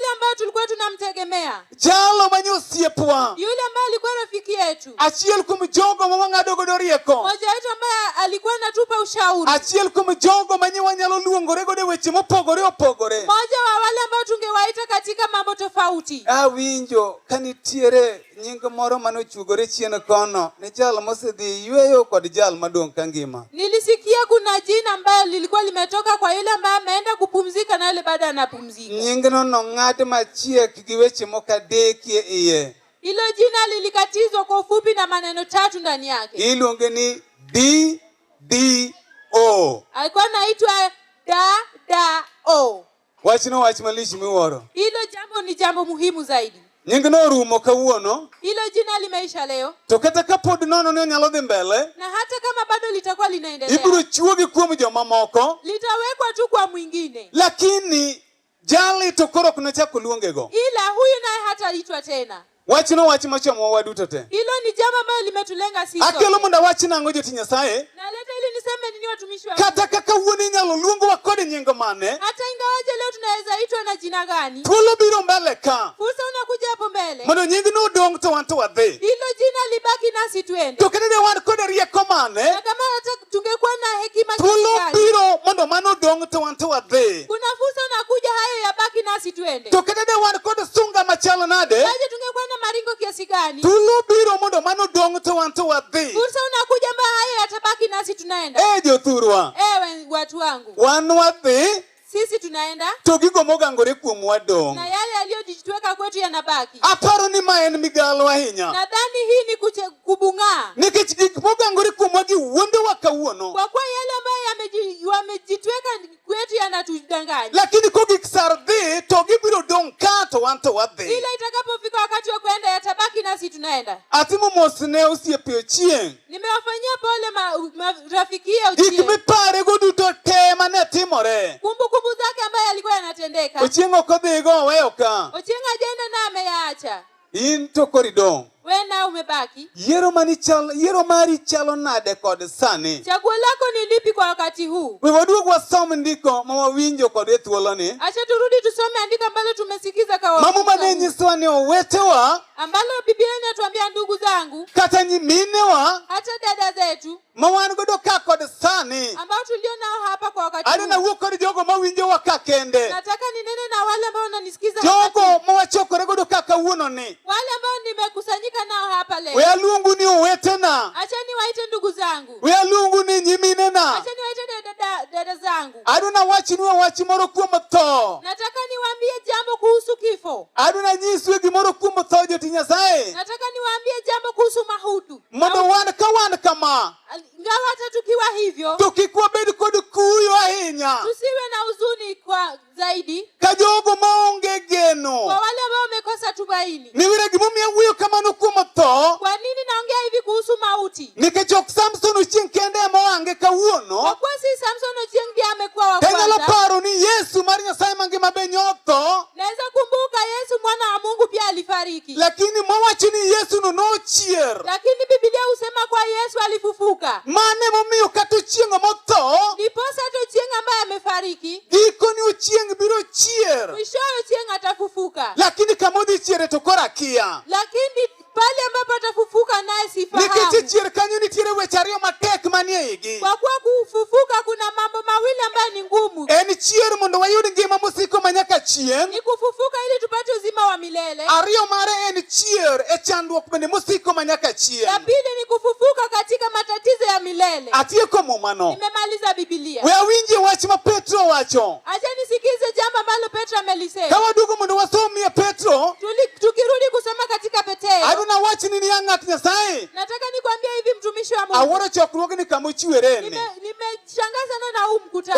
yule ambaye tulikuwa tunamtegemea jalo manye osiepwa yule ambaye alikuwa rafiki yetu achiel kuom jogo ma wang'ado godo rieko mmoja wetu ambaye alikuwa anatupa ushauri achiel kuom jogo manye wanyalo luongore godo e weche mopogore opogore mmoja wa wale ambao tungewaita katika mambo tofauti awinjo ka nitiere nying moro mane ochugore chien kono ni jal mosedhi yweyo kod jal madong' ka ngima. Nilisikia kuna jina ambayo lilikuwa limetoka kwa yule ambaye ameenda kupumzika na yule bado anapumzika. Nyingno nong'ad machiek gi weche moko adek e iye. Hilo jina lilikatizwa kwa ufupi na maneno tatu ndani yake. Iluonge ni D D O. Alikuwa anaitwa da da o. Wachno wach malich miwuoro. Hilo jambo ni jambo muhimu zaidi. Nying norumo kawuono. Hilo jina limeisha leo. To kata ka pod nono ni onyalo dhi mbele. Na hata kama bado litakuwa linaendelea. Ibiro chuogi kuom jomamoko. Litawekwa tu kwa mwingine. Lakini jali to koro ok nachak oluongego. Ila huyu naye hataitwa tena. Wachno wach machomowa waduto te. Hilo ni jambo ambalo limetulenga sisi. Akelo mondo awach nang'o joti Nyasaye? Naleta ili niseme nini watumishi wa Kata kaka wuon inyalo luongwa kod nying mane? Hata ingawaje leo tunaweza itwa na jina gani? Thuolo biro mbele ka. Fursa unakuja hapo mbele. Mondo nyingno odong to wan to wadhi. Hilo jina libaki nasi twende. To kata ne wan kod rieko mane? Na kama tungekuwa na hekima thuolo biro mondo mano dong to wan to wadhi kuna fursa unakuja hayo yabaki nasi tuende to kata de wan kod sunga machalo nade aje tungekuwa na maringo kiasi gani thuolo biro mondo mano dong to wan to wadhi fursa unakuja mba hayo yatabaki nasi tunaenda eh jothurwa ewe watu wangu wan wadhi sisi tunaenda to gigo mogangore kuomwa dong na yale yaliyojitweka kwetu yanabaki aparo ni ma en migalo ahinya nadhani hii ni kuche, kubung'aa nikech gik mogangore kuomwa gi wuondowa kawuono kwa kuwa yale ambayo yameji- wamejitweka kwetu yanatudanganya lakini kogik sar dhi to gibiro dong' ka to wan to wadhi ila itakapofika wakati wa kuenda yatabaki nasi tunaenda atimo mos ne osiepe ochieng' Nimewafanyia pole ma- ma- rafiki ya Gik Ochieng. miparego duto te mane timore. Kumbukumbu zake ambaye alikuwa yanatendeka. Ochieng' ok odhigo oweyo ka. Ochieng ajenda na ameyaacha. In to koro idong'. Wewe nao umebaki. Yiero mani chalo, yiero mari chalo nade kod sani? Chaguo lako ni lipi kwa wakati huu? We waduog wasom ndiko ma wawinjo kod e thuoloni. Acha turudi tusome andiko ambalo tumesikiza kwa Mama wakati mane huu. nyisowa ni owetewa ambalo Biblia inatuambia ndugu zangu, kata nyiminewa, hata dada zetu mawan godo ka kod sani, ambao tulio nao hapa kwa wakati huu, anawuo kod jogo mawinjo wa ka kende. Nataka ninene na wale ambao wananisikiza, jogo mawachokore godo ka kawuono ni, wale ambao nimekusanyika nao hapa leo. Wealuongu ni owetena, acha niwaite ndugu zangu. Wealuongu ni nyiminena, acha niwaite dada, dada zangu. Adwa nawachnu wach moro kuom tho. Nataka niwaambie jambo kuhusu kifo. Adwa nanyisue gimoro kuom tho joti Nyasaye. Nataka niwaambie jambo kuhusu mahutu. Mondo wan ka wan kama. Ingawa hata tukiwa hivyo. To kik wabed kod kuyo ahinya. Tusiwe na huzuni kwa zaidi. ka jogo maonge geno. Kwa wale ambao wamekosa tumaini. Ni wira gimomiyo awuoyo kamano kuom tho. Kwa nini naongea hivi kuhusu mauti? Nikech ok Samson Ochieng kende ema ohange kawuono. Kwa kuwa si Samson Ochieng ndiye amekuwa wa kwanza. Tanyalo paro ni Yesu mar Nyasaye mangima be nyotho. Naweza kumbuka Yesu mwana wa Mungu pia alifariki. Lakini mowacho ni Yesu no nochier. Lakini Biblia husema kwa Yesu alifufuka. Mane momiyo kata Ochieng motho. Ndiposa hata Ochieng ambaye amefariki. Gikoni chieng' biro chier. Mwishowe chieng' atafufuka. Lakini kama odhi chiere to koro akia. Lakini pale ambapo atafufuka naye sifahamu. Nikech chier kanyo nitiere weche ariyo matek manie igi. Kwa kuwa kufufuka kuna mambo mawili ambayo ni ngumu. En chier mondo wayud ngima mosiko manyaka chieng'. Ni kufufuka ili tupate uzima wa milele. Ariyo mare en chier e chandruok bende mosiko ma nyaka chier. Ya pili ni kufufuka katika matatizo ya milele. Atieko mumano. Nimemaliza Biblia. We awinje wach ma Petro wacho. Acha nisikize jambo ambalo Petro amelisema. Kama dugu mundu wasomi ya Petro. Tuli, tukirudi kusoma katika Petero. Adu na wachi nini ya ng'at Nyasaye. Nataka nikwambie hivi mtumishi wa Mungu. Aworo chokruoge ni kamuchiwereni. Nime, nime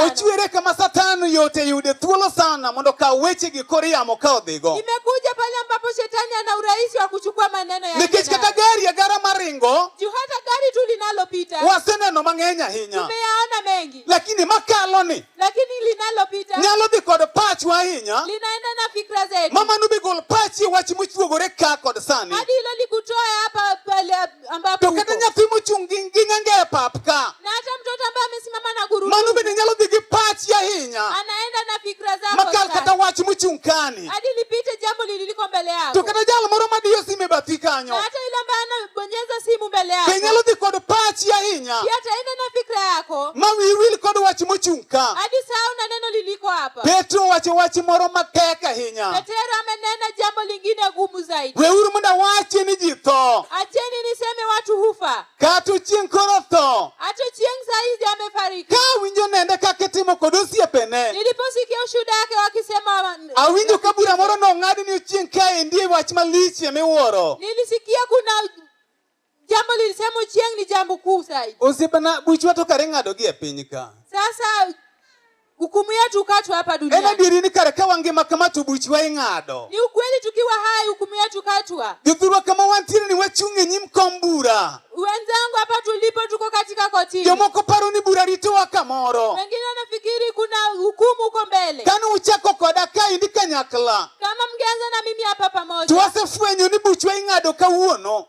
Ochwere kama Satan yote yude thuolo sana mondo ka weche gi kor yamo ka odhigo. Imekuja pale ambapo shetani ana urahisi wa kuchukua maneno ya. Nikech kata gari ya gara maringo. Juu hata gari tu linalopita. Waseneno mang'eny ahinya. Tumeyaona mengi. Lakini makalo ni. Lakini linalopita. Nyalo dhi kod pachwa ahinya. Linaenda na fikra zetu. Mama nubigol pachi wach mochuogore ka kod sani. Hadi hilo likutoe hapa pale ambapo to kata nyathi mochung' gi ng'enge e pap ka na hata mtoto ambaye amesimama na gurudumu, mano bende nyalo dhi gi pachi ahinya, anaenda na fikra zako makal kata wach mochung' kani, hadi lipite jambo lililiko mbele yako. To kata jal moro madiyo simu e bathi kanyo, na hata yule ambaye anabonyeza simu mbele yako, be nyalo dhi kod pachi ahinya, pia ataenda na fikra yako, ma wiyi wil kod wach mochung' ka, hadi sahau na neno liliko hapa. Petro wacho wach moro matek ahinya. Petro amenena jambo lingine gumu nguvu zaidi. Weuru mondo awachi ni ji tho. Acheni niseme watu hufa. Kata chieng' koro tho. Hata chieng' saa hizi amefariki. Ka awinjo nende kaka itimo kod osiepene. Niliposikia ushuhuda wake wakisema awinjo ka bura moro nong'ad ni chieng' kae ndiye wach malich emiwuoro. Nilisikia kuna Jambo lilisema chieng' ni jambo kuu zaidi. Osiepana, buchwa to kare ng'ado gi e piny ka. Sasa hukumu yetu ukatwa hapa duniani. En adieri ni kare ka wangima kama to buchwa ing'ado. Ni ukweli tukiwa hai hukumu yetu katwa. Jothurwa kama wantiere ni wachung' e nyim kom bura. Wenzangu hapa tulipo tuko katika kotini. Jomoko paro ni bura ritowa kamoro. Wengine wanafikiri kuna hukumu huko mbele. Kani uchako koda ka indi kanyakla. Kama mngeanza na mimi hapa pamoja. Twasefwenyo ni buchwa ing'ado kawuono.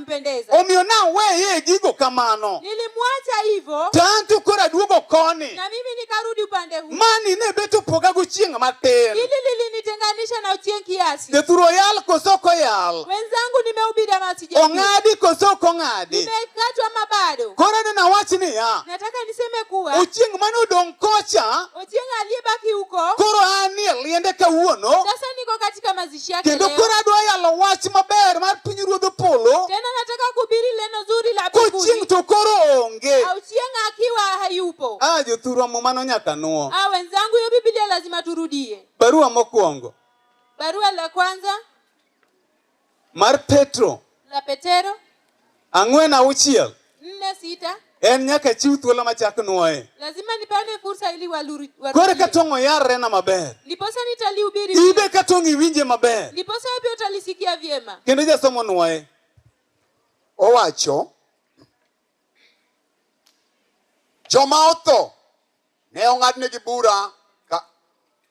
kumpendeza. Omiyo naweye gigo kamano. Nilimwacha hivyo. To an to koro aduogo koni. Na mimi nikarudi upande huu. Mani ne bet opoga gochieng' matin. Hili lilinitenganisha na ochieng' kiasi. Jathu royal koso ok oyal. Wenzangu nimehubiri ama sijahubiri. Ong'adi koso ok ong'adi. Nimekatwa ama bado. Koro neno nawach niya. Nataka niseme kuwa. Ochieng' mane odong' kocha. Ochieng' aliyebaki huko. Koro an e liende kawuono. Sasa niko katika mazingira kuhakikishia kendo kileo. koro adwa yalo wach maber mar pinyruodh polo Tena nataka kuhubiri neno zuri la kochieng' mbinguni. to koro onge Au chieng' akiwa hayupo. a jothurwa mumano nyaka nuo Ah, wenzangu, hiyo Biblia lazima turudie. barua mokwongo Barua la kwanza mar petro la Petero Ang'wen auchiel. Nne sita. En nyaka chiw thuolo machak nwoye. Lazima nipane fursa ili waluri. Kore ka tong' oyarre na maber. Ndiposa nitalihubiri. Ibe ka tong' iwinje maber. Ndiposa pia utalisikia vyema. Kendo jasomo nwoye. Owacho. Joma otho ne ong'adnegi bura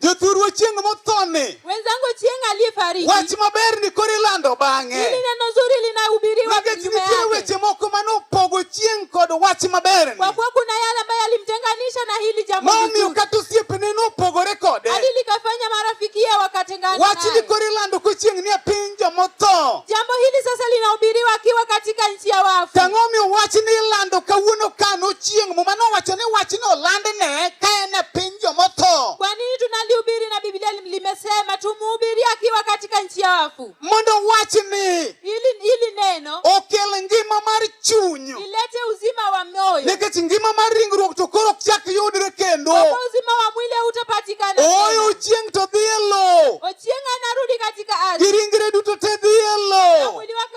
Jothurwa chieng' mothoni. Wenzangu chieng' aliyefariki. Wach maber ni koro ilando bang'e. Hili neno zuri linahubiriwa Nikech nitie weche moko mane opogo chieng' kod wach maber ni. Kwa kuwa kuna yale ambayo yalimtenganisha na hili jambo. Momiyo kata osiepene nopogore kode. Hadi likafanya marafiki yao wakatengana naye. Wach ni koro ilando ko chieng' ni e piny jomotho. Jambo hili sasa linahubiriwa akiwa katika nchi ya wafu. Tang'o miyo wach ni ilando kawuono kano chieng' muma nowacho ni wach ni oland ne ka en e piny jomotho. Kwa nini tunalihubiri na Biblia limesema tumuhubiri akiwa katika nchi ya wafu? Mondo wachni ili, ili neno okel ngima mar chuny, ilete uzima wa moyo, nikech ngima mar ringruok to koro ok chak yudre kendo, uzima wa mwili hautapatikana. Oyo chieng' to dhi e lowo, ochieng' anarudi katika ardhi, giringre duto te dhi e lowo, mwili wake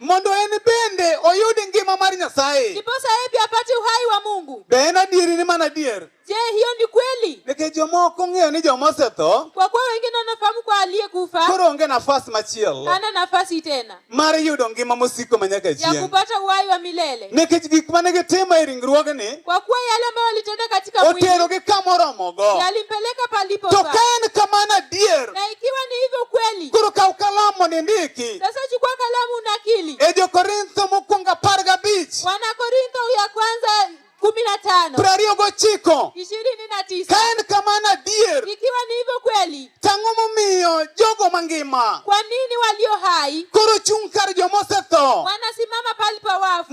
mondo en bende oyud ngima mar Nyasaye. Ndiposa yeye pia apate uhai wa Mungu. Be en adieri ni mana adier? Je, hiyo ni kweli? Nikech jomoko ong'eyo ni joma osetho. Kwa kuwa wengine wanafahamu kwa aliyekufa. Koro onge nafasi machielo. Hana nafasi tena. Mar yudo ngima mosiko manyaka chieng'. Ya kupata uhai wa milele. Nikech gik mane gitimo e ringruogni. Kwa kuwa yale ambayo walitenda katika mwili. Oterogi kama oromogo. Yalimpeleka palipofaa. To ka en kamano adier. Na ikiwa ni hivyo kweli. ndiki. Koro kaw kalamu ni ndiki. Sasa chukua kalamu unakili. E jo Korintho mokwongo apar gabich. Wana Korintho ya kwanza kumi na tano. Piero ariyo gochiko. Ishirini na tisa. Ka en kamano adier. Ikiwa ni hivyo kweli. Tang'o momiyo jogo mangima. Kwa nini walio hai. Koro chung' kar joma osetho. Wanasimama palipo wafu.